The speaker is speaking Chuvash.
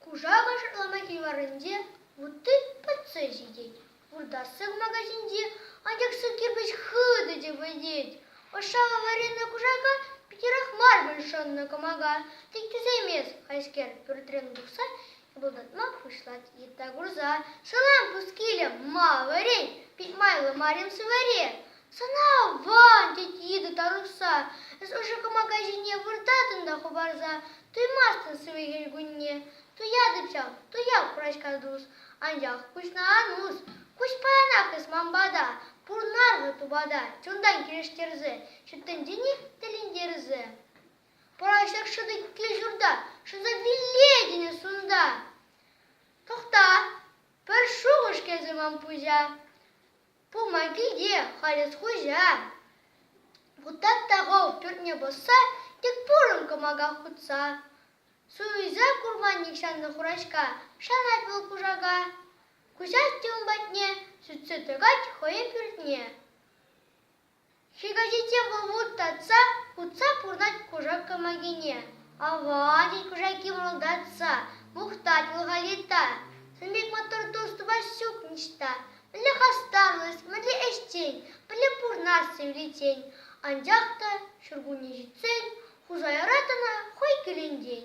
Кушакӑш Ломаки варринче вутти пӑтса ҫитет. Вуртассӑк магазинче анчах сӑк кирпӗч хытӑ те вӗтет. Ӑшшаллӑ варринӑ кушака питӗрех мар пуль шӑннӑ кӑмака. Тек тӳсеймест хайскер пӳртрен тухса пултӑртма пуҫлать йытта курса. Салам, пускиле, ма вӗрен, пит майлӑ марин сываре. Сана ван, тет йытӑ тарӑхса, эс ӑшӑ кӑмака ҫине выртатӑн та хӑпарса, туймастӑн сывӑ кунне. Туятӑп ҫав, туяп курачка тус, анчах куҫна ан ус, куҫ паянах эс ман пата, пурнар-ха тупата, чунтан килӗштерсе, ҫут тӗнчене тӗлӗнтерсе. Пӑрахҫак шӑтӑк кил-ҫурта шӑтса виле кӗнӗс унта. Тӑхта, пӗр шухӑш кӗрсе ман пуҫа. Пулма килте халес хуҫа. Кутат та хов пӳртне пӑсса, тек пурӑн кӑмака хутса. Суйса курманник ҫаннӑ хураҫка, шанать вӑл кушака. Куҫать те ун патне, сӳтсе тӑкать хӑйӗ пӳртне. Ҫыхаҫиччен вӑл вут татса хутса пурӑнать кушак кӑмакине. «Ава!» тет кушаки мӑлтатса. «Мухтать вӑл Халита. Сан пек маттур тус тупас ҫук ниҫта. Мӗнле хастарлӑх, мӗнле ӗҫчен, мӗнле пурнасса ӳлетен. Анчах та ҫуркунне ҫитсен Хусаяра тӑна хӑй кӳлентен.